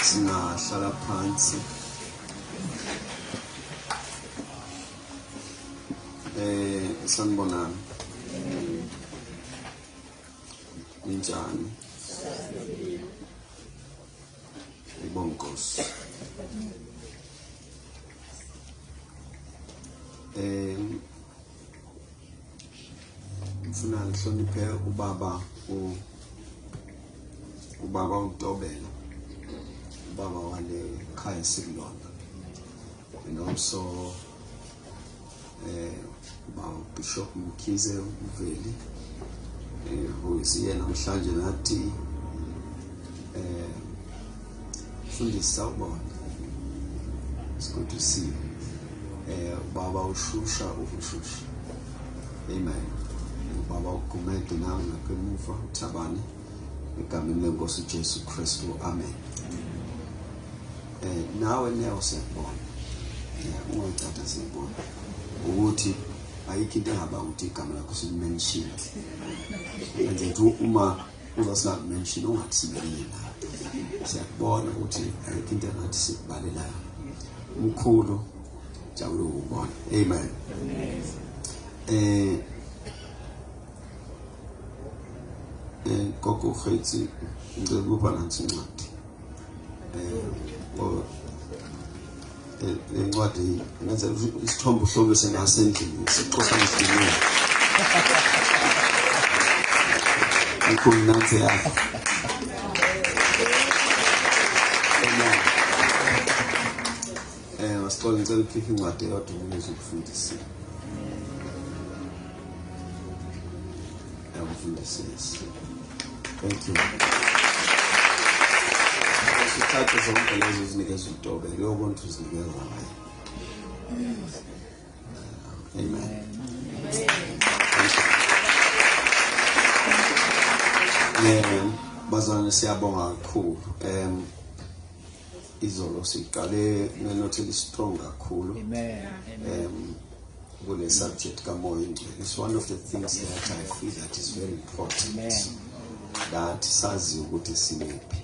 singahlala phansi eh sanibonani ninjani ngibonga inkosi eh ngifuna ngihloniphe ubaba ubaba uNtobela ubaba wale khaya sikulona and also eh ubaba Bishop Mkhize uveli eh uyena namhlanje nathi eh Mfundisi sawubona. Sikudusiwe. Eh baba ushusha ukushusha. Amen. Baba ugumede nawe ngakwemuva uthabane egameni lenkosi uJesu Kristu. Amen. Eh nawe nawe siyabona. Yeah, ungayithatha siyabona ukuthi ayikho into engaba ukuthi igama lakho silimenshini. And then uma Uzosingaku mention ungathi sibekile la. Siyakubona ukuthi ayikho into engathi sikubalelayo. Umkhulu jabula ukubona. Amen. Eh eh gogo Khetsi ngicela ukuba nansi incwadi. Eh incwadi ngenza isithombe uhlobo sengaso endlini sixoxa ngesinye ikhulu nansi yakho eh wasixola ngicela ukhiphe incwadi yodwa ukuze ukufundise yakufundisisa Thank you. Sithathe zonke lezo zinikeza utobe leyo muntu uzinikeza ngayo. Amen. Yeah, bazalwane siyabonga kakhulu. Um izolo siqale ngenothi elistrong kakhulu amen um kule subject kamoya ingcwele it's one of the things that i feel that is very important amen that sazi ukuthi simephi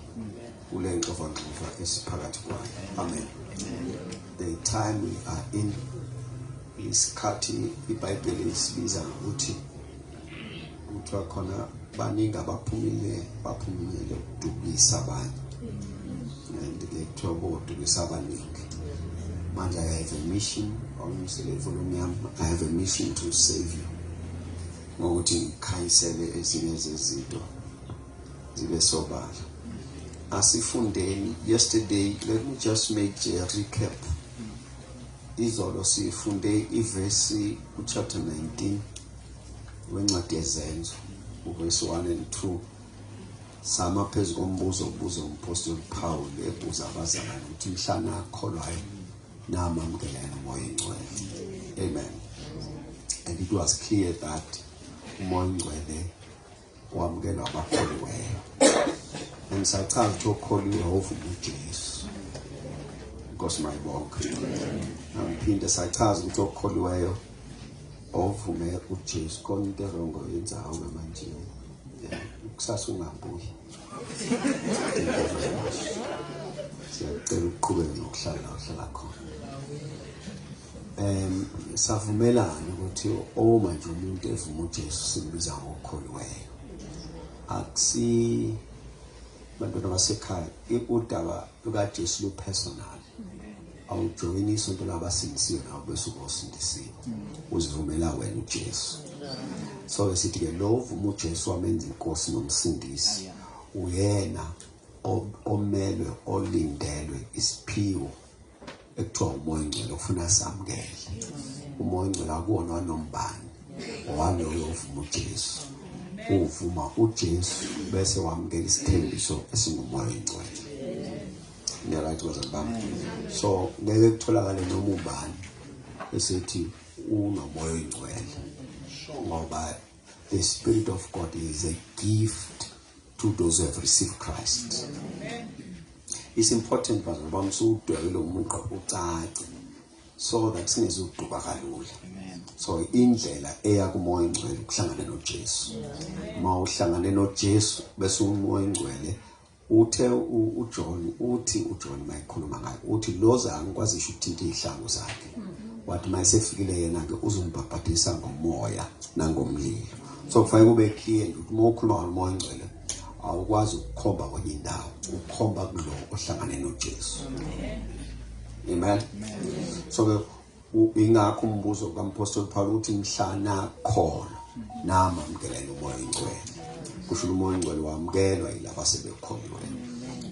kule nxovangxova esiphakathi kwayo amen the time we are in isikhathi ibhayibheli isibiza ngokuthi kuthiwa khona baningi abaphumile baphumile ukudukisa abanye and ke kuthiwa bodukisa abaningi manje i have a mission wawumisele ivolume yami i have a mission to save you ngokuthi ngikhayisele ezinye zezinto zibe sobala asifundeni yesterday let me just make a recap izolo sifunde ivesi uchapter 19 wencwadi yezenzo uverse 1 and 2 sama phezu kombuzo obuza umpostoli Pawulu ebuza abazalwane ukuthi mhlana akholwayo namamukela yena umoya oyingcwele amen and it was clear that umoya oyingcwele wamukelwa abakholiweyo angisachazi ukuthi okholiwe wovuma ujesu inkosi mayibonke angiphinde sachaza ukuthi okholiweyo ovume ujesu khona into erongo yenzayo ngamanje kusasa ungabuyi siyacela ukuqhubeka nokuhlala uhlala khona Um savumelana ukuthi uma nje umuntu evuma uJesu simbiza ngokholiweyo. Akusi bantwana basekhaya udaba lukaJesu lu personal. Awujoyini isonto labasindisiwe nawe bese ubosindisiwe. Uzivumela wena uJesu. So sithi ke lo uvuma uJesu wamenza inkosi nomsindisi. Uyena omelwe olindelwe isiphiwo ekuthiwa umoya ongcwele ufuna samukele umoya ongcwele akuwona wanombani owami uyovuma uJesu uvuma uJesu bese wamukela isithembiso esingumoya ongcwele ngiyalathi bazali bami so ngeke kutholakale noma ubani esithi unomoya ongcwele ngoba The Spirit of God is a gift to those who have received Christ. It's important but ngoba msudwebele umuntu ucace so that singezuduka kalula. So indlela eya kumoya ongcwele ukuhlangana noJesu. Uma uhlangane noJesu bese umoya ongcwele Uthe uJohn uthi uJohn mayikhuluma ngaye uthi loza angikwazisho ukuthinta izihlangu zakhe wathi mayesefikile yena ke uzombhabhadisa ngomoya nangomlilo so kufanele kube clear ukuthi uma ukhuluma ngomoya ongcwele awukwazi ukukhomba kwenye indawo ukhomba kulo ohlangane noJesu amen so ke Ingakho umbuzo kaMphostoli Pawulu uthi mhla nakholwa namamkelela umoya oyingcwele. Kusho umoya oyingcwele wamukelwa yilaba sebekholwe.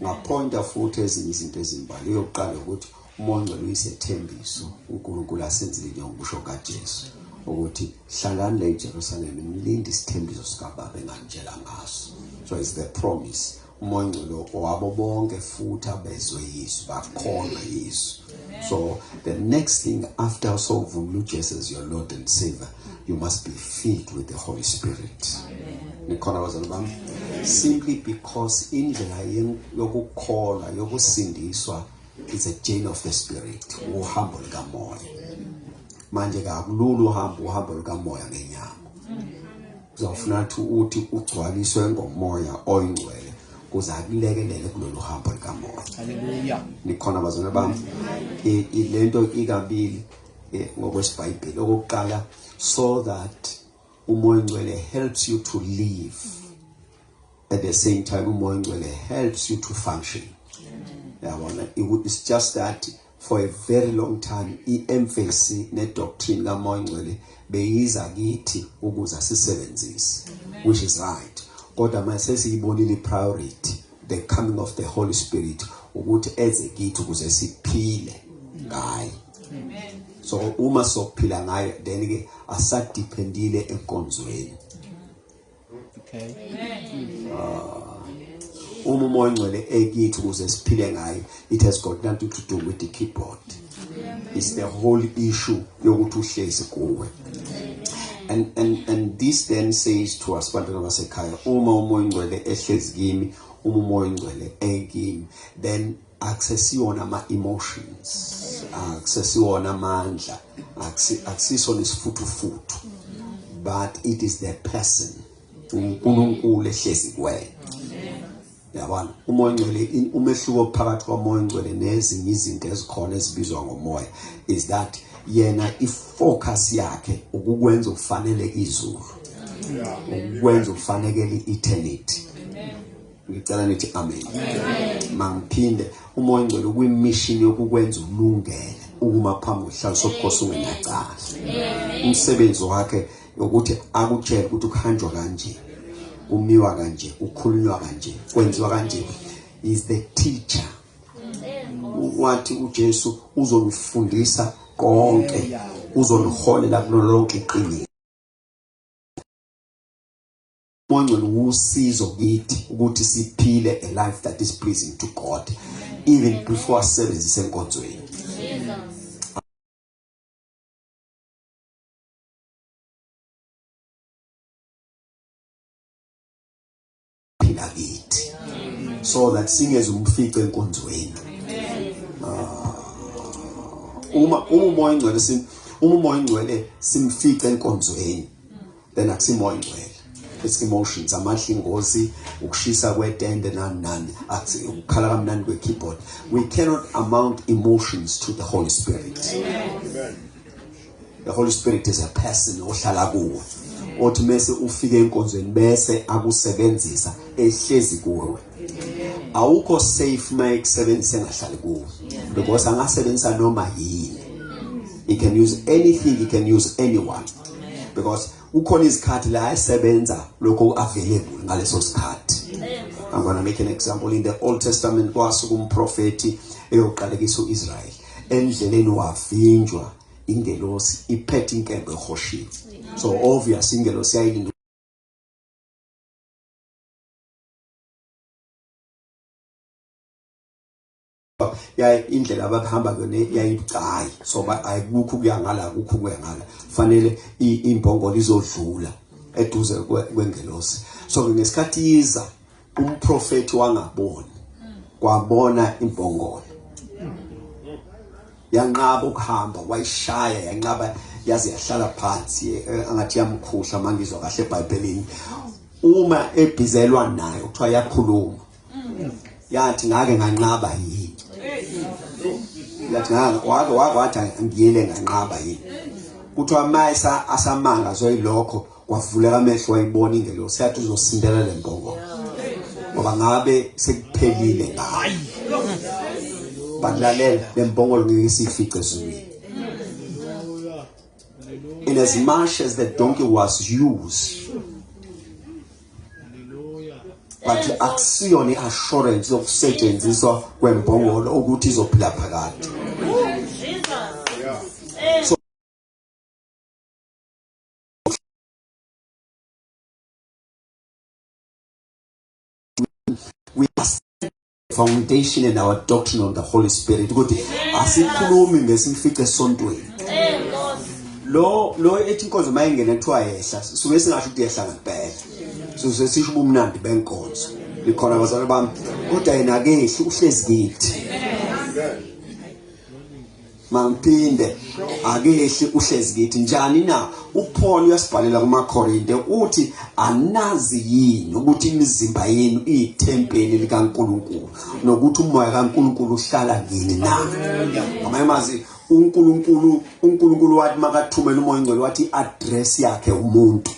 Ngaphonta futhi ezinye izinto ezimbalwa. Eyokuqala ukuthi umoya ongcwele uyisethembiso uNkulunkulu asenzile njengoba kusho kaJesu ukuthi hlalani la eJerusalem nilinde isithembiso sikababa engangitshela ngaso. So it's the promise umoya ongcwele owabo bonke futhi abezwe yisu bakholwe yisu so the next thing after usovumela ujesu as your lord and savior you must be filled with the holy spirit nikhona bazali bami simply because indlela yokukholwa yokusindiswa is a chain of the spirit uhambo likamoya manje kakulula uhamba uhambo lukamoya ngenyama Uzofuna ukuthi uthi ugcwaliswe ngomoya oyingcwele kuze akulekelele kulolu hambo likamoya. Haleluya. Nikhona bazona bami. Ilento ikabili eh, ngokwesibhayibheli okokuqala so that umoya oyingcwele helps you to live. At the same time umoya oyingcwele helps you to function. Yabona, it's just that for a very long time iemphasi nedoctrine kamoya ongcwele beyiza kithi ukuze sisebenzise which is right kodwa manje sesiyibonile ipriority the coming of the holy spirit ukuthi eze kithi ukuze siphile ngaye amen so uma sokuphila ngayo then ke asadependile enkonzweni Okay. Ah. Uma umoya ongcwele ekithi ukuze siphile ngayo it has got nothing to do with the keyboard. It's the whole issue yokuthi uhlezi kuwe. And and and this then says to us bantwana basekhaya uma umoya ongcwele ehlezi kimi uma umoya ongcwele ekimi then akusesiwona ama emotions akusesiwona amandla akusiso nesifuthufuthu but it is the person uNkulunkulu ehlezi kuwena yabona umoya ongcwele umehluko phakathi komoya ongcwele nezinye izinto ezikhona ezibizwa ngomoya is that yena ifocus yakhe ukukwenza ufanele izulu ukwenza ufanekele eternity ngicela nithi amen mangiphinde umoya ongcwele kwimishini yokukwenza ulungele ukuma phambi kwesihlalo sobukhosi ungenacala umsebenzi wakhe ukuthi akutshele ukuthi kuhanjwa kanje kumiwa kanje kukhulunywa kanje kwenziwa kanje is the teacher wathi uJesu uzonifundisa konke uzoniholela kulo lonke iqiniso Mongcwele usizo kithi ukuthi siphile a life that is pleasing to God even before asebenzise enkonzweni. Phila kithi so that singeze umfice enkonzweni. Ah, uma uma umoya ingcwele uma umoya ingcwele simfice enkonzweni. then akusimo ingcwele it's emotions amandla ingozi ukushisa kwetende nani nani athi ukukhala kamnandi kwe keyboard we cannot amount emotions to the holy spirit amen the holy spirit is a person ohlala kuwe othi mase ufike enkonzweni bese akusebenzisa ehlezi kuwe awukho safe uma ekusebenzisa engahlali kuwe because angasebenzisa noma yini he can use anything he can use anyone because kukhona izikhathi la esebenza lokho available ngaleso sikhathi I'm going to make an example in the Old Testament kwasuka umprofeti eyoqalekisa uIsrael endleleni wavinjwa ingelosi iphethe inkembe ehoshiwe so obvious ingelosi yayilinda yayi indlela ababehamba kuyona yayibucayi so ayikukho kuya ngala kukho kuya ngala fanele imbongolo izodlula eduze kwengelosi so ngesikhathi iza umprofeti wangaboni kwabona imbongolo yanqaba ukuhamba wayishaya yanqaba yaze yahlala phansi eh, angathi yamkhuhla mangizwa kahle eBhayibhelini uma ebhizelwa nayo kuthiwa yakhuluma yathi ngake nganqaba yini yathi ngake wake wake wathi ngiyele nganqaba yini kuthiwa mayisa asamanga zoyilokho kwavuleka amehlo wayibona ingelosi yathi uzosindela le mbongo ngoba ngabe sekuphelile ngayo balalela le mbongo ngeke isifice ezulwini in as much as the donkey was used but akusiyona i-assurance yokusetshenziswa kwembongolo ukuthi izophila phakade we are foundation and our doctrine on the Holy Spirit ukuthi asikhulumi ngesimfice esontweni lo lo ethi inkonzo mayengena kuthiwa yehla suke singasho ukuthi yehla ngempela so sesisho ubumnandi benkonzo likhona abazali bami kodwa yena akehli uhlezi kithi Mangiphinde akehli uhlezi kithi njani na uPaul uyasibhalela kumaKorinte uthi anazi yini ukuthi imizimba yenu iyithempeli likaNkuluNkulu nokuthi umoya kaNkuluNkulu uhlala kini na ngamanye amazwi uNkulunkulu uNkulunkulu wathi makathumela umoya ongcwele wathi address yakhe umuntu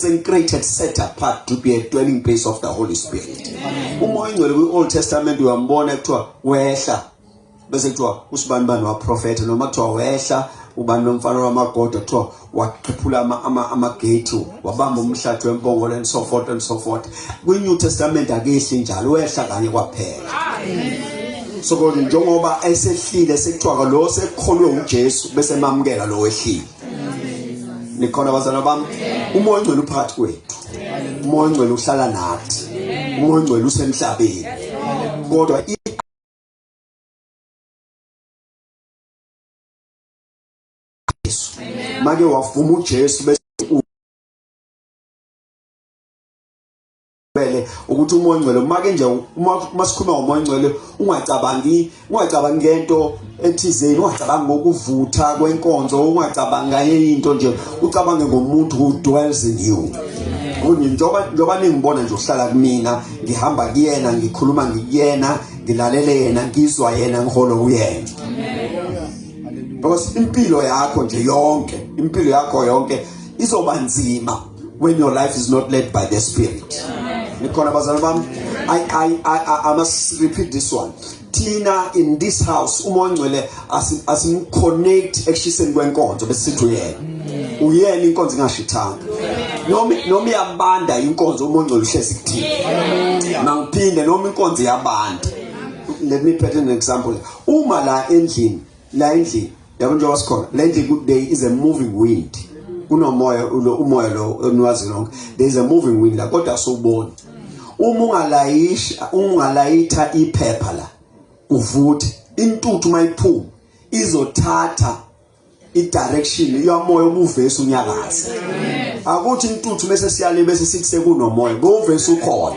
Same created set apart to be a dwelling place of the Holy Spirit. Umoya ingcwele kwi Old Testament uyambona kuthiwa wehla bese kuthiwa usibani bani waprofetha noma kuthiwa wehla ubani nomfana wamagoda kuthiwa waqhiphula amagate ama, ama wabamba umhlathi wempongolo and so forth and so forth kwi-new testament akehli njalo wehla kanye kwaphela so kodwa njengoba esehlile sekuthiwa lo sekukholwe ujesu bese emamukela lo wehlile nikhona bazana bami umoya ongcwele uphakathi kwethu umoya ongcwele uhlala nathi umoya ongcwele usemhlabeni kodwa make wavuma uJesu bese ngempela ukuthi umoya ongcwele uma ke nje uma sikhuluma ngomoya ongcwele ungacabangi ungacabangi ngento ethizeni ungacabangi ngokuvutha kwenkonzo ungacabangi nganye into nje ucabange ngomuntu who dwells in you kunye njengoba njengoba ningibona nje uhlala kumina ngihamba kuyena ngikhuluma ngikuyena ngilalele yena ngizwa yena ngiholo kuyena because impilo yakho nje yonke impilo yakho yonke izoba nzima when your life is not led by the spirit nikhona bazalwane bami I, I, I, I, I must repeat this one thina in this house uma ongcwele asimconnect ekushiseni kwenkonzo besithi uyena uyena inkonzo ingashithanga noma noma iyabanda inkonzo uma ongcwele uhlezi kuthina mangiphinde noma inkonzo iyabanda let me put an example uma la endlini la endlini yabo njengoba sikhona la endlini there is a moving wind kunomoya ulo umoya lo eniwazi lonke there is a moving wind la kodwa asuboni uma ungalayisha ungalayitha iphepha la uvuthe intuthu mayiphuma izothatha idirection yomoya obuvesa unyakaza akuthi intuthu bese siyale bese sithi sekunomoya bovesa ukhona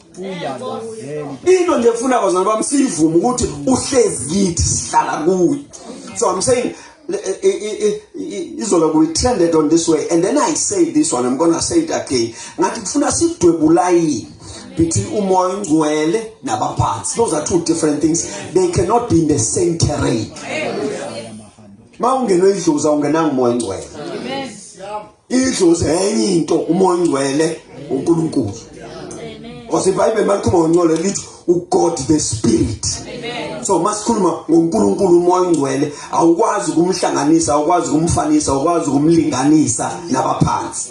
into nje efuna bazali bami siyivume ukuthi uhlezi kithi sihlala kuye so i'm saying izolo we trended on this way and then i say this one i'm gonna say it again ngathi kufuna sidwebulayini between umoya ongcwele nabaphansi those are two different things they cannot be in the same terrain ma ungenwe idlozi awungenanga umoya ongcwele idlozi enye into umoya ongcwele uNkulunkulu osibhayibheli malikhuluma ngongcwele lithi ugod the spirit so masikhuluma ngoNkulunkulu umoya ongcwele awukwazi ukumhlanganisa awukwazi ukumfanisa awukwazi ukumlinganisa nabaphansi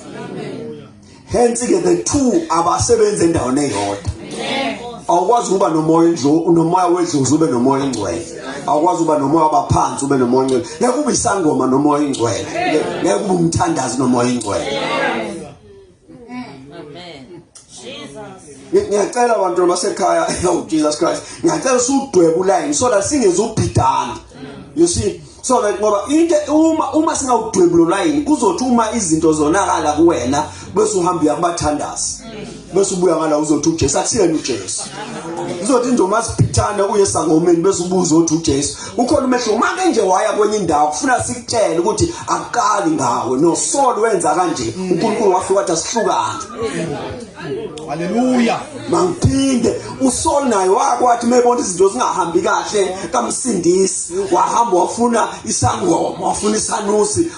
hence ke the two abasebenza endaweni eyodwa awukwazi ukuba nomoya nje unomoya wedlozi ube nomoya ongcwele awukwazi uba nomoya wabaphansi ube nomoya ongcwele ngeke kube isangoma nomoya ingcwele ngeke kube umthandazi nomoya ingcwele ngiyacela abantu basekhaya oh Jesus Christ ngiyacela usudwebe ulayini so that singezubhidana you see so that ngoba into uma uma singawudwebula ulayini kuzothi uma izinto zonakala kuwena bese uhamba uyakubathandaza bese ubuya ngala uzothi uJesu akusiyena uJesu uzothi nje uma siphithane uye sangomeni bese ubuza uthi uJesu ukhona umehluko uma ke nje waya kwenye indawo kufuna sikutshele ukuthi akuqali ngawe nosolo wenza kanje uNkulunkulu wafika wathi asihlukane haleluya mangiphinde usol naye wakwathi mebona izinto zingahambi kahle kamsindisi wahamba wafuna isangoma wafuna isanusi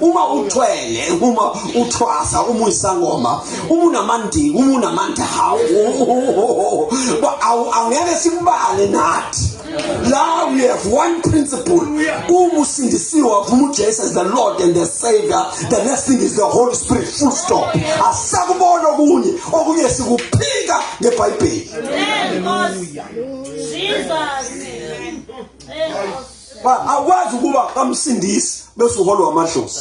uma uthwele uma uthwasa uma uyisangoma uma unamandiki uma unamandla hawu awungeke sikubale nathi Now we have one principle. Uma usindisiwe wavuma uJesu as the Lord and the Savior, the next thing is the Holy Spirit full stop. Asakubona okunye, okunye sikuphika ngeBhayibheli. Amen. Jesus. Amen. ba awukwazi ukuba kamsindisi bese uholwa amadlozi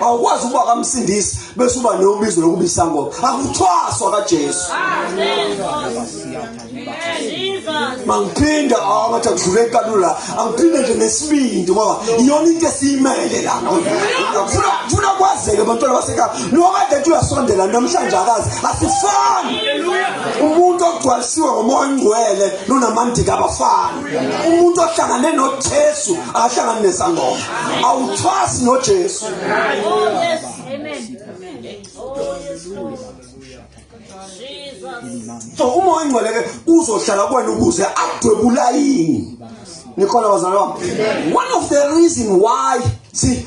awukwazi ukuba kamsindisi bese uba nobizo lokuba isangoma akuthwaswa kaJesu mangiphinda angathi akudlule kalula angiphinde nje nesibindi ngoba iyona into esiyimele la ngifuna ngifuna kwazeke abantwana basekhaya nokade ethi uyasondela namhlanje akazi asifani umuntu ogcwalisiwe ngomoya ongcwele nonamandika abafani umuntu ohlangane noJesu akahlangani nesangoma awuthwasi noJesu so uma oyingcweleke uzohlala kwena ukuze adwebula yini nikholwa bazalwane one of the reason why see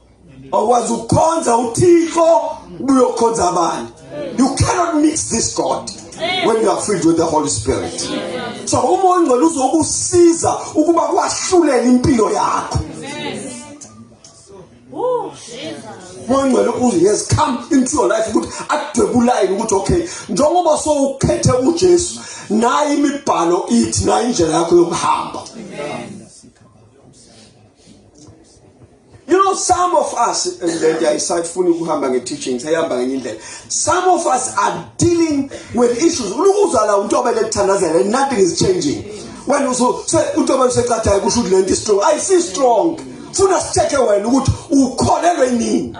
awukwazi ukukhonza uthixo ubuyokhonza abantu you cannot mix this god when you are filled with the holy spirit so uma ongcwele uzokusiza ukuba kwahlulele impilo yakho mongcwele ukuze yes come into your life ukuthi adwebulayini ukuthi okay njengoba sowukhethe uJesu nayi imibhalo ithi nayi indlela yakho yokuhamba amen You know some of us lento ayisayifuni ukuhamba nge teachings ayihamba ngenye indlela. Some of us are dealing with issues. Ulukuzwa la umuntu obele kuthandazela nothing is changing. Wena uzo se umuntu obele secathayo kusho ukuthi lento is strong. Ayisi strong. Funa sitheke wena ukuthi ukholelwe nini.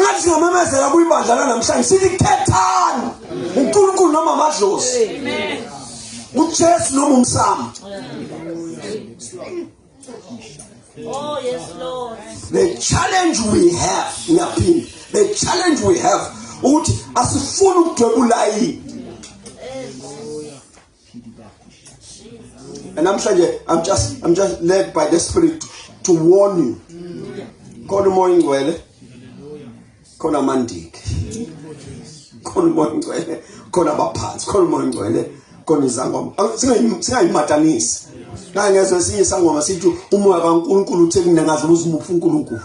ngathi singamemezela kuyibandla lanamhlanje sithi khethani unkulunkulu noma amadlozi ujesu noma umsamo Oh yes Lord. The challenge we have ngiyaphinda. The challenge we have ukuthi asifuni ukudwebula yini And namhlanje I'm just I'm just led by the spirit to warn you. Khona umoya ingcwele. Khona amandiki. Khona umoya ingcwele. Khona abaphansi. Khona umoya ingcwele. Khona izangoma. Singayimatanisi. Naye ngezwe esinye isangoma sithi umoya kaNkulunkulu uthe kunengazi uzimupha uNkulunkulu.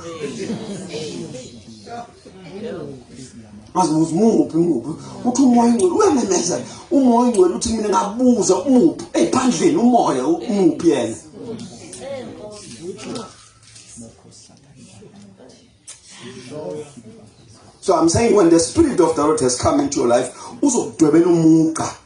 azibuza umuphi umuphi uthi umoya ongcwele uyamemezela umoya ongcwele uthi mina ngabuza umuphi eyiphandleni umoya umuphi yena so i'm saying when the spirit of the lord has come into your life uzokudwebela umugqa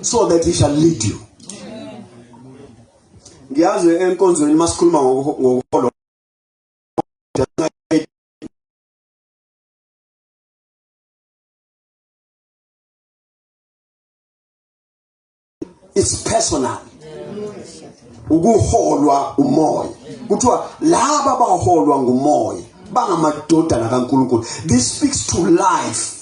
so that he shall lead you ngiyazi enkonzweni masikhuluma ngokuholo it's personal ukuholwa umoya kuthiwa laba abaholwa ngumoya bangamadodana kaNkulunkulu this speaks to life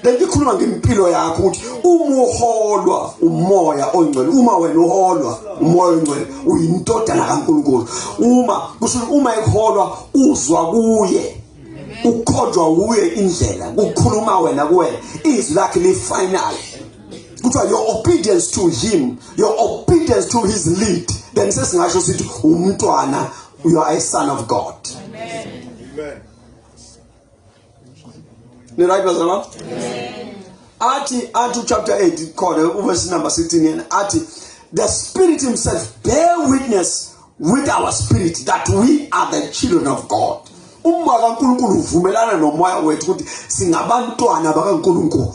lento ikhuluma ngempilo yakho ukuthi uma uholwa umoya ongcwele uma wena uholwa umoya ongcwele uyintodana kaNkuluNkulu uma kusho uma ekuholwa uzwa kuye ukhonjwa uye indlela ukukhuluma wena kuwena izwi lakhe lifinal kuthiwa your obedience to him your obedience to his lead then sesingasho sithi umntwana you are a son of god amen amen ni right bazalwa amen athi athi chapter 8 khona uverse number 16 yena athi the spirit himself bear witness with our spirit that we are the children of god umoya kaNkuluNkulu uvumelana nomoya wethu ukuthi singabantwana bakaNkuluNkulu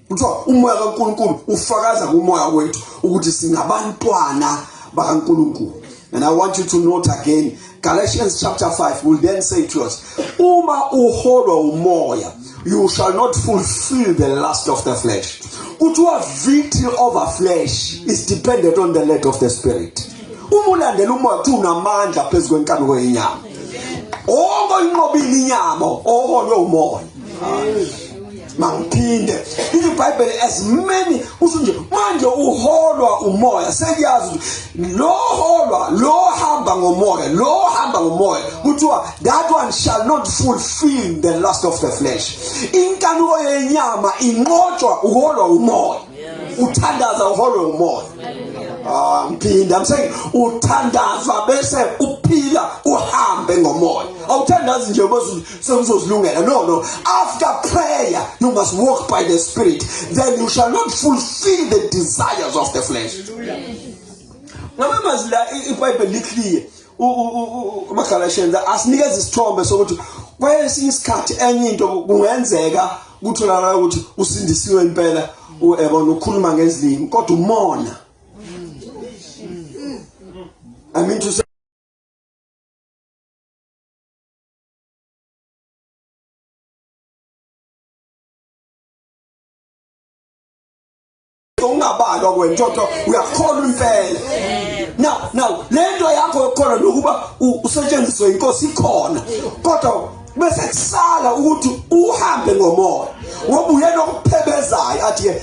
kuthiwa umoya kaNkulunkulu ufakaza kumoya wethu ukuthi singabantwana bakaNkulunkulu and i want you to note again Galatians chapter 5 will then say to us uma uholwa umoya you shall not fulfill the lust of the flesh kuthiwa victory over flesh is dependent on the lead of the spirit uma ulandela umoya kuthi unamandla phezu kwenkanuko yenyama onke oyinqobile inyama oholwe umoya mangiphinde lithi ibhayibheli as many kusho nje manje uholwa umoya sekuyazi ukuthi lo holwa lo hamba ngomoya lo hamba ngomoya kuthiwa that one shall not fulfill the lust of the flesh inkanuko yenyama inqotshwa uholwa umoya uthandaza uholwe umoya ah ngiphinde i'm saying uthandaza bese uphila uhambe ngomoya awuthandazi nje bese So uzozilungela no no after prayer you must walk by the spirit then you shall not fulfill the desires of the flesh ngama mazwi la ibhayibheli liclear umagalashenda asinikeza isithombe sokuthi kwesinye isikhathi enye into kungenzeka kutholakala ukuthi usindisiwe impela uyabona ukhuluma ngezilimi kodwa umona i mean to say ungabalwa wena kodwa uyakholwa impela now now lento yakho yokukholwa nokuba usetshenziswe inkosi ikhona kodwa bese kusala ukuthi uhambe ngomoya ngoba uyena okuphebezayo athi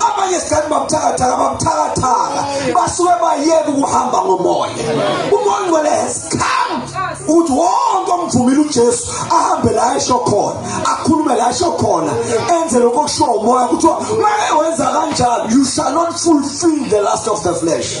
abanye sikathi babuthakathaka babuthakathaka basuke bayeke ukuhamba ngomoya umoya ongcwele has come ukuthi wonke omvumile ujesu ahambe la esho khona akhulume la esho khona enze lokho okushiwo umoya kuthiwa make wenza kanjani you shall not fulfill the last of the flesh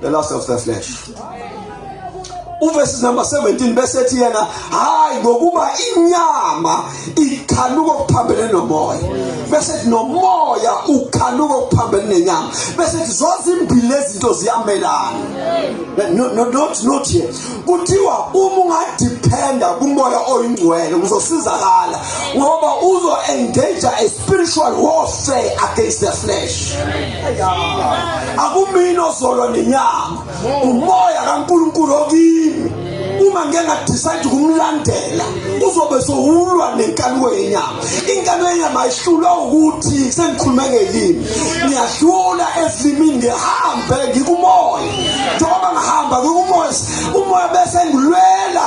the lust of the flesh uverse number 17 bese ethi yena hayi ngokuba inyama ikhanuka okuphambene nomoya bese ethi nomoya ukhanuka okuphambene nenyama bese ethi zozimbili lezinto ziyamelana no no not not here kuthiwa uma ungadependa kumoya oyingcwele uzosizakala ngoba uzo engage a spiritual warfare against the flesh akumina ozolwa nenyama umoya kaNkulunkulu okimi uma ngeke ngadecide ukumlandela uzobe sowulwa nenkanuko yenyama inkanuko yenyama ayihlulwa ukuthi sengikhulume ngelimi ngiyahlula ezilimini ngihambe ngikumoya njengoba ngihamba ngikumoya umoya bese ngilwela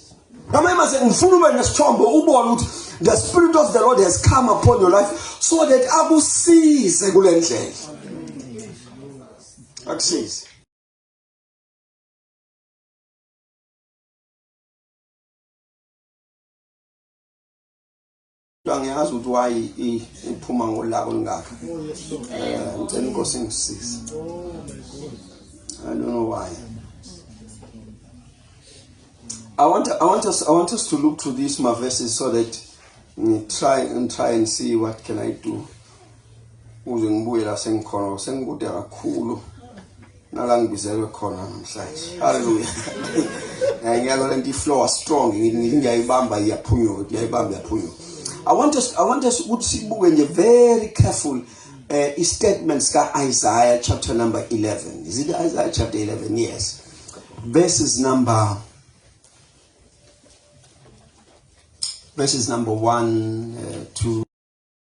Ngamanye mase ngifuna ube nesithombe ubone ukuthi the spirit of the Lord has come upon your life so that akusize kule ndlela. Akusize. angiyazi ukuthi wayi iphuma ngolaka olungaka um eh, ngicela inkosi ingisize i don't know why I want, I, want us, I want us to look to these my verses so that mm, try and try and see what can I do uze ngibuye la sengikhona ngoba sengikude kakhulu nala ngibizelwe khona namhlanje haleluya eh, ngiyalo lento iflow strong ngiyayibamba iyaphunyuka ngiyayibamba iyaphunyuka i want us i want us ukuthi sibuke nje very careful uh, i-statement sika-isaiah chapter number 11 is it isaiah chapter 11 yes verses number verses number 1 uh, eh, 2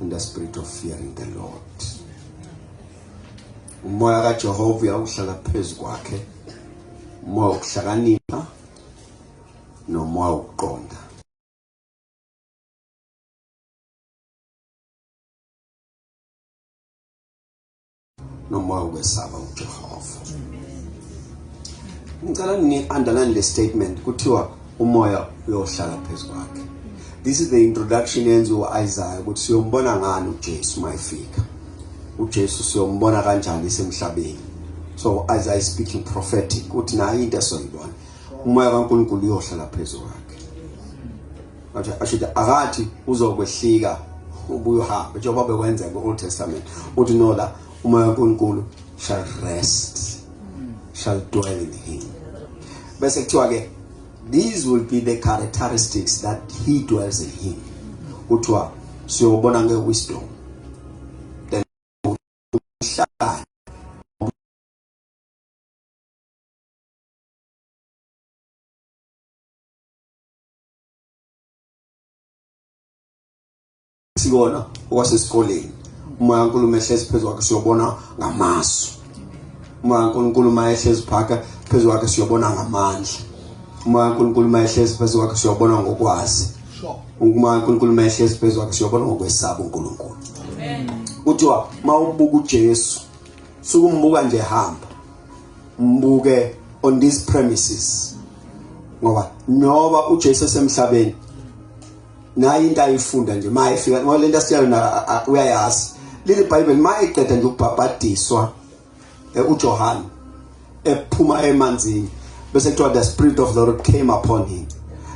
in the spirit of fearing the Lord umoya kaJehova uyawuhlala phezu kwakhe umoya wokuhlakanipha nomoya wokuqonda noma ukwesaba uJehova ngicela ni underline le statement kuthiwa umoya uyohlala phezu kwakhe this is the introduction yenziwa uIsaiah ukuthi siyombona ngani uJesu mayifika uJesu siyombona kanjani semhlabeni so Isaiah is speaking prophetic uthi nayo into esoyibona umoya kaNkulunkulu uyohlala phezu kwakhe Wathi ashuthi akathi uzokwehlika ubuye uhambe njengoba bekwenzeka ku-Old Testament. Uthi no la umoya kaNkulunkulu shall rest shall dwell in him. Bese kuthiwa ke these will be the characteristics that he dwells in him. Kuthiwa siyobona nge wisdom. Then uhlakani sikona okwasesikoleni umoya kaNkulunkulu ehlezi phezu kwakhe siyobona ngamasu umoya kaNkulunkulu uma ehlezi phaka phezu kwakhe siyobona ngamandla umoya kaNkulunkulu uma ehlezi phezu kwakhe siyobona ngokwazi umoya kaNkulunkulu uma ehlezi phezu kwakhe siyobona ngokwesaba uNkulunkulu amen kuthiwa mawubuka uJesu sukumbuka nje hamba mbuke on these premises ngoba noba uJesu esemhlabeni naye into ayifunda nje maye fika ngoba lento asiyalo na uyayazi leli bible maye eqeda nje ukubhabhadiswa eh, uJohane ephuma emanzini bese kuthiwa the spirit of the lord came upon him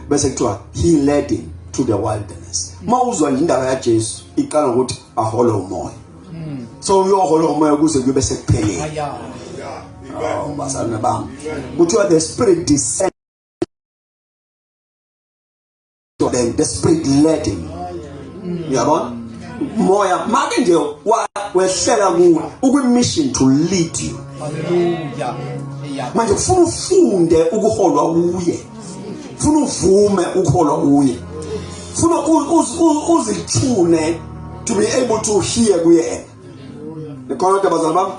bese kuthiwa he led him to the wilderness uma uzwa indaba yaJesu iqala ukuthi ahole umoya hmm. so uyohola umoya kuze kube sekupheleni oh bazalwane bami kuthiwa the spirit descend then the spirit led him hmm. uyabona moya make nje wehlela kuwe ukwi-mission to lead you manje kufuna ufunde ukuholwa kuye funa uvume ukholwa kuye funa uzithune to be able to hear kuyena nikhona kodwa bazali bami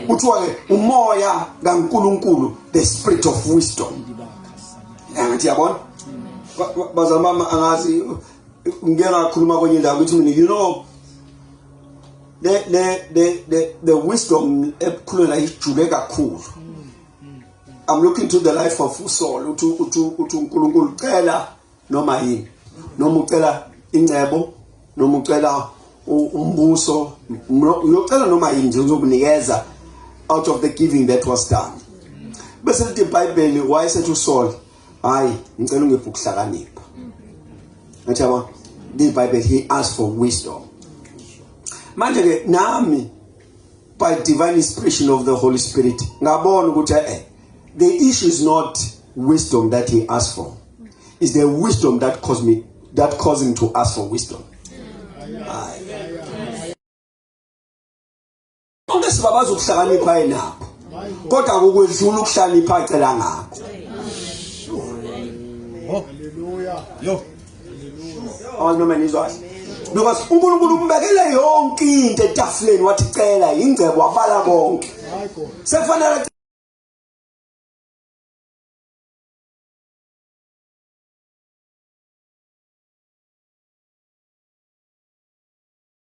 kuthiwa ke umoya kaNkuluNkulu the spirit of wisdom angithi yabona bazali bami angazi ngeke ngakhuluma kwenye indawo ukuthi mina you know the the the the wisdom ekhulula ijule kakhulu I'm looking to the life of uSol uthi uthi uthi uNkulunkulu ucela noma yini noma ucela ingcebo noma ucela umbuso uyocela noma yini nje uzokunikeza out of the giving that was done bese lithi iBhayibheli wayesethi uSol hayi ngicela ungiphe ukuhlakanipha ngathi yabona this bible he asked for wisdom manje ke nami by divine inspiration of the Holy Spirit ngabona ukuthi eh the issue is not wisdom that he asked for is the wisdom that caused me that caused him to ask for wisdom konke sibabaza ukuhlakanipha yenakho kodwa kukwedlula ukuhlakanipha acela ngakho haleluya yo awazi noma nizwazi because unkulunkulu umbekele yonke into etafuleni wathi cela yingcebo wabala konke sekufanele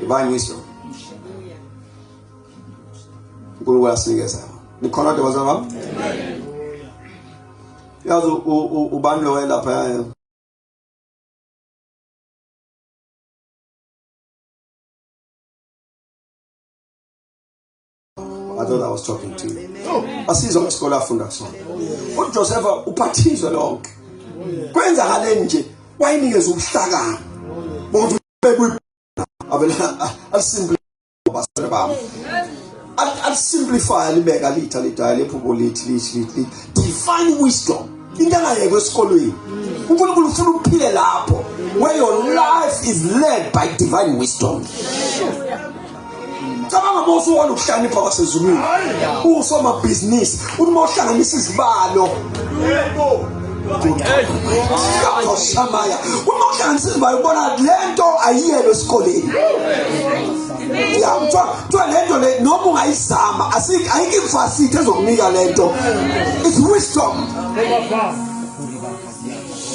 Divine wisdom. Nkulunkulu uyasinikeza. Nikhona kodwa bazalwa bami? Amen. Yazi ubani lo wayelapha yayo? I thought I was talking to you. Asizwa ngesikole afunda kusona. UJosepha uphathizwe lonke. Kwenzakaleni nje wayinikeza ubuhlakani. Bonke bekuyi avela asimple basere bami. Alisimplify libeka litha lidaya lephupho lithi lithi lithi divine wisdom. Into engayekwe esikolweni. uNkulunkulu ufuna uphile lapho where your life is led by divine wisdom. cabanga uma usuwona ukuhlakanipha kwasezulwini uwusomabhizinisi uthi uma uhlanganisa izibalo shamaya uma uhlanganisa izibalo ubona le nto ayiyelwe esikoleni ya kuthiwa kuthiwa le nto le noma ungayizama ayikho imfasithi ezokunika le nto it's wisdom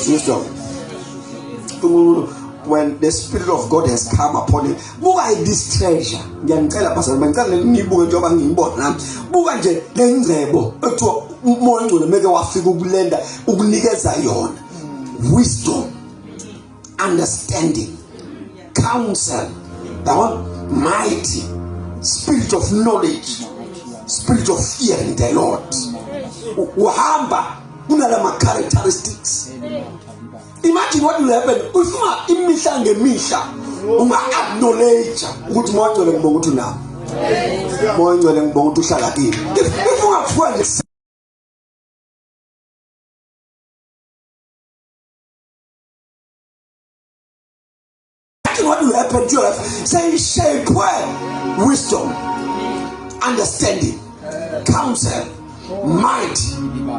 wisdom when the spirit of god has come upon him buka this treasure ngiyanicela pastor ngicela nibuke njengoba ngiyibona nami buka nje le ngcebo ekuthiwa umoya ongcwele meke wafika ukulenda ukunikeza yona wisdom understanding counsel yabona mighty spirit of knowledge spirit of fear in the lord uhamba kunala ma characteristics imagine what will happen usuka imihla ngemihla unga acknowledge ukuthi moya ngcwele ngibonga ukuthi unami moya ngcwele ngibonga ukuthi uhlala kimi if ungafuka nje Nothing what will happen to us say shape wisdom, understanding, counsel, might,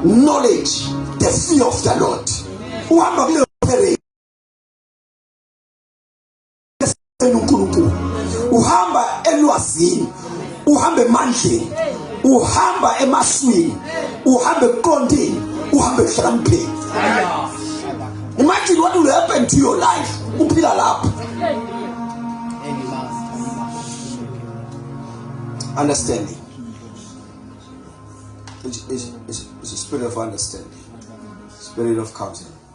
knowledge, the fear of the Lord. Uhamba kule operate uNkulunkulu uhamba elwazini uhamba emandleni uhamba emaswini uhamba ekuqondeni uhamba ekuhlakanipheni imagine what will happen to your life uphila lapho understanding is, is, is a spirit of understanding spirit of counsel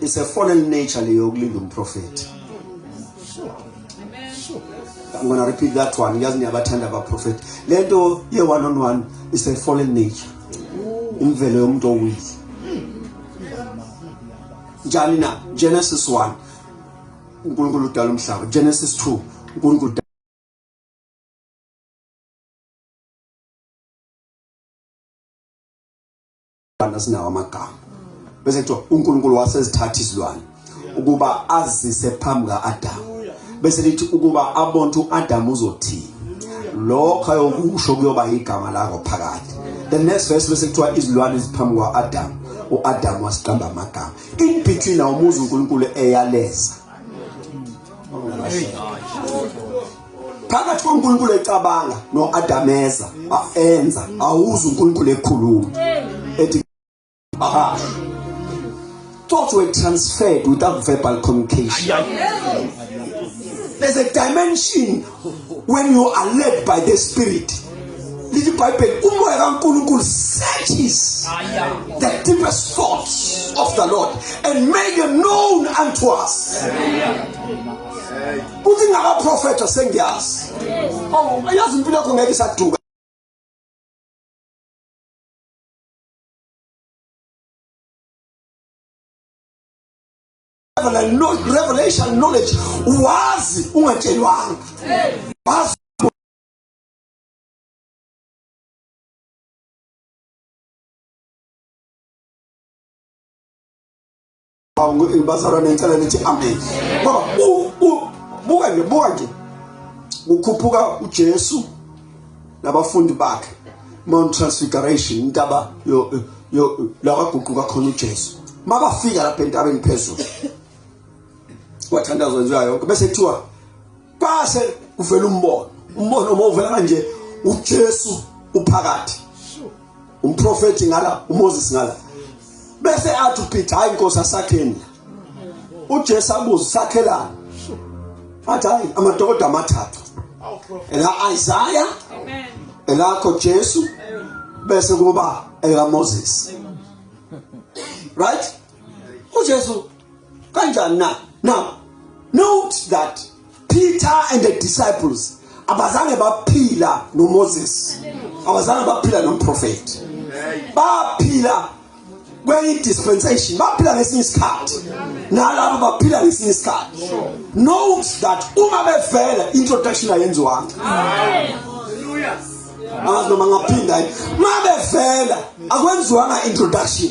it's a fallen nature leyo yokulinda umprofethi I'm gonna repeat that one ngiyazi niyabathanda abaprofethi le nto ye-one on one is a fallen nature imvelo yomuntu owile njani na genesis 1 unkulunkulu udala umhlaba genesis 2 unkulunkulu abantu asinawo amagama bese kuthiwa uNkulunkulu wasezithatha izilwane ukuba azise phambi kaAdam bese lithi ukuba abonke uAdam uzothini lokho ayokusho kuyoba igama lakho phakathi the next verse bese kuthiwa izilwane ziphambi kwaAdam uAdam wasiqamba amagama in between awumuzi uNkulunkulu eyaleza phakathi koNkulunkulu ecabanga noAdameza baenza awuzi uNkulunkulu ekhuluma ethi bahasha thoughts were transferred without verbal communication there's a dimension when you are led by the spirit lithi ibhayibheli umoya kankulunkulu searches the deepest thoughts of the lord and make it known unto us Amen. Kuthi ngaba prophet sengiyazi. Oh, yazi impilo yakho ngeke isaduka. revelation knowledge wazi ungatshelwanga wazi bazalwane ngicela nithi amen ngoba buka nje buka nje kukhuphuka uJesu nabafundi bakhe Mount Transfiguration intaba yo yo lakaguquka khona uJesu mabafika lapha entabeni phezulu wathandazwa nje yonke bese kuthiwa base kuvela umbono umbono uma uvela kanje uJesu uphakathi umprofeti ngala uMoses ngala bese athi uPeter hayi inkosi asakheni uJesu abuza sakhelana athi hayi amadokoda amathathu ela Isaiah amen elakho Jesu bese kuba ela Moses right uJesu kanjani na now note that Peter and the disciples abazange baphila noMoses abazange baphila nomprofeti baphila kwenye dispensation baphila ngesinye isikhathi nalabo baphila ngesinye isikhathi note that uma bevela introduction ayenziwanga angazi noma ngaphinda uma bevela akwenziwanga introduction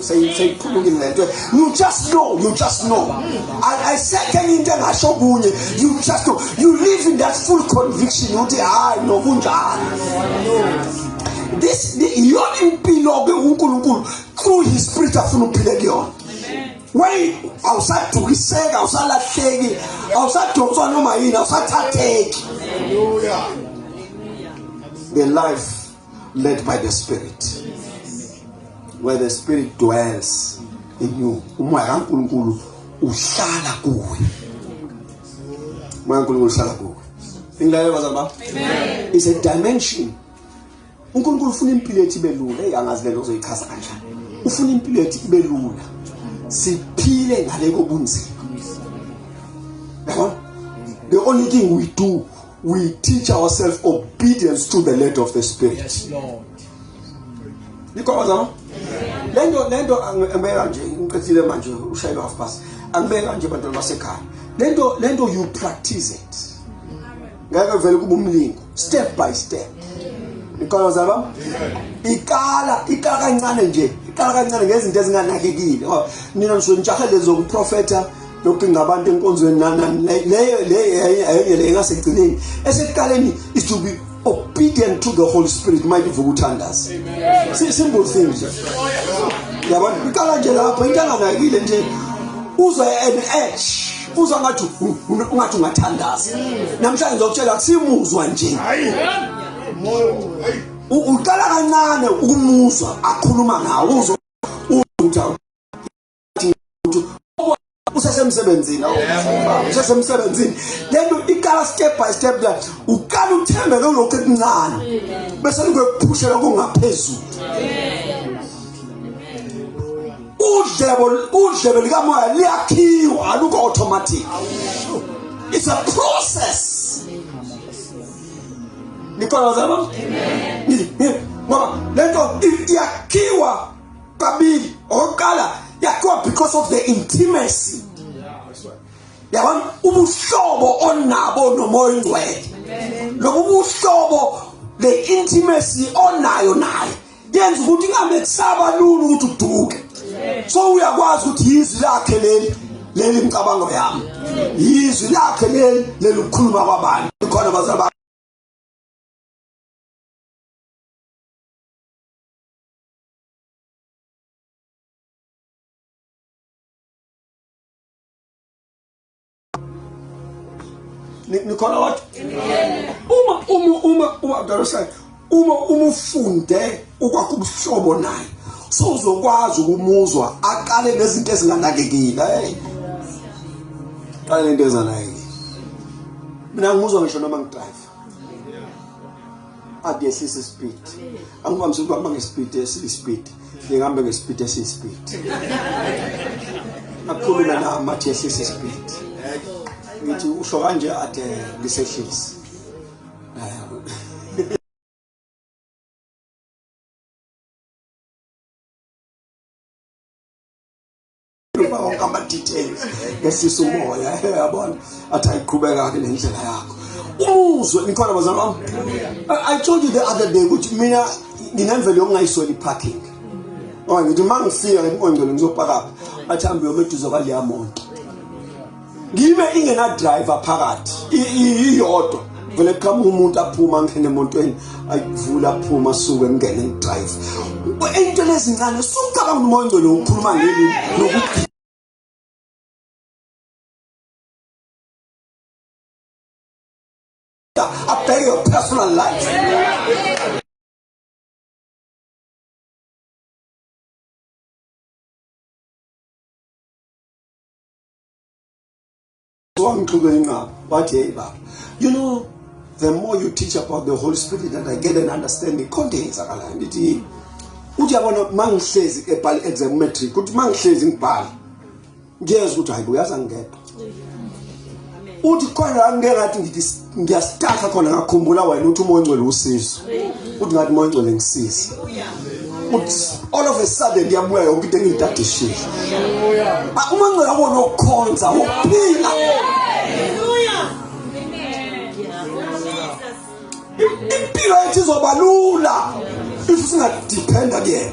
seyiqhubukile le nto you just know you just know ayisekho enye into engasho okunye you just know you live in that full conviction ukuthi hhayi nokunjalo this iyona impilo-ke unkulunkulu through his spirit afuna uphile kuyona wey awusadukiseki awusalahleki awusadonswa noma yini awusathatheki the life led by the spirit where the spirit dwells in you umoya kaNkuluNkulu uhlala kuwe umoya kaNkuluNkulu uhlala kuwe ingilalela bazali bami amen is a dimension uNkulunkulu ufuna impilo ethi belula hey angazi lento uzoyichaza kanjani ufuna impilo ethi ibe lula siphile ngale kobunzima yabona the only thing we do we teach ourselves obedience to the lead of the spirit yes lord Nikhona zama? Lento lento angibeka nje ngiqedile manje ushayile half past. Angibeka nje bantwana basekhaya. Lento lento you practice it. Ngeke vele kuba umlingo step by step. Nikhona zama? Ikala ikala kancane nje. Ikala kancane ngezinto ezinganakekile. Nina ngisho ngijahe lezo kuprofeta yokucinga abantu enkonzweni leyo leyo le engasekugcineni esekuqaleni is to be obedient to the holy spirit uma ivuka uthandaza simple thing nje yabona iqala nje lapho into anganakile nje uzwa an edge uzwa ngathi ungathi ungathandaza namhlanje ngizokutshela kusimuzwa nje uqala kancane ukumuzwa akhuluma ngawo uzwa ukuthi usesemsebenzini usesemsebenzini then iqala step by step la uqala uthembe lolokhu ekuncane bese likuphushela kungaphezulu udlebo udlebe likamoya liyakhiwa aluko automatic it's a process nikolozama ngoba lento iyakhiwa kabili okokuqala yakhiwa because of the intimacy yabona ubuhlobo onabo nomoya oyingcwele lobu buhlobo le intimacy onayo naye yenza ukuthi ingamethaba lula ukuthi uduke so uyakwazi ukuthi yizwi lakhe leli leli mcabango yami yizwi lakhe leli leli ukukhuluma kwabantu khona bazaba nikholwa wathi uma uma uma uma mntanosana uma uma ufunde ukwakha ubuhlobo naye so uzokwazi ukumuzwa aqale nezinto ezinganakekile hey qale nento ezanakekile mina ngimuzwa ngisho noma ngidrive akehlise speed angivamise ukuhamba ngespeed esiyispeed ngihambe ngespeed esiyispeed akhulume nami athi yehlise speed ngithi usho kanje athi ngisehlise Phuma wonke ama details. Ngesisa umoya. Yabona. Athi ayiqhubeka ke nendlela yakho. Umuzwe nikhona bazalwa bami. I told you the other day ukuthi mina nginemvelo yokungayisweli parking. Oh ngithi mangifika ngikongcelo ngizopaka. Athi hambe yomeduze kwaleya monto. ngibe ingenadriver phakathi iyodwa vele qhamuka umuntu aphuma angene emontweni ayivula aphuma suke ngene ngidrive into lezincane sucabanga umoya ongcwele ukhuluma ngeli nokuthi abheke your personal life wangixuka inqaba wathi hey baba you know the more you teach about the holy spirit and i get an understanding khonto yenzakalayo ndithi uthi yabona mangihlezi ebhala exam matric uthi mangihlezi ngibhala ngiyezwa ukuthi hayi uyaza ngedwa uthi khona la ngike ngathi ngithi ngiyasithatha khona ngakhumbula wena uthi umoya ongcwele usizo uthi ngathi umoya ongcwele ngisize uthi all of a sudden ngiyabuya yonke into engiyidadishile uma ngcela kona ukukhonza ukuphila impilo yethu izoba lula if singadependa kuyena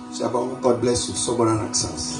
Siyabonga. God bless you. Sobonana kusasa.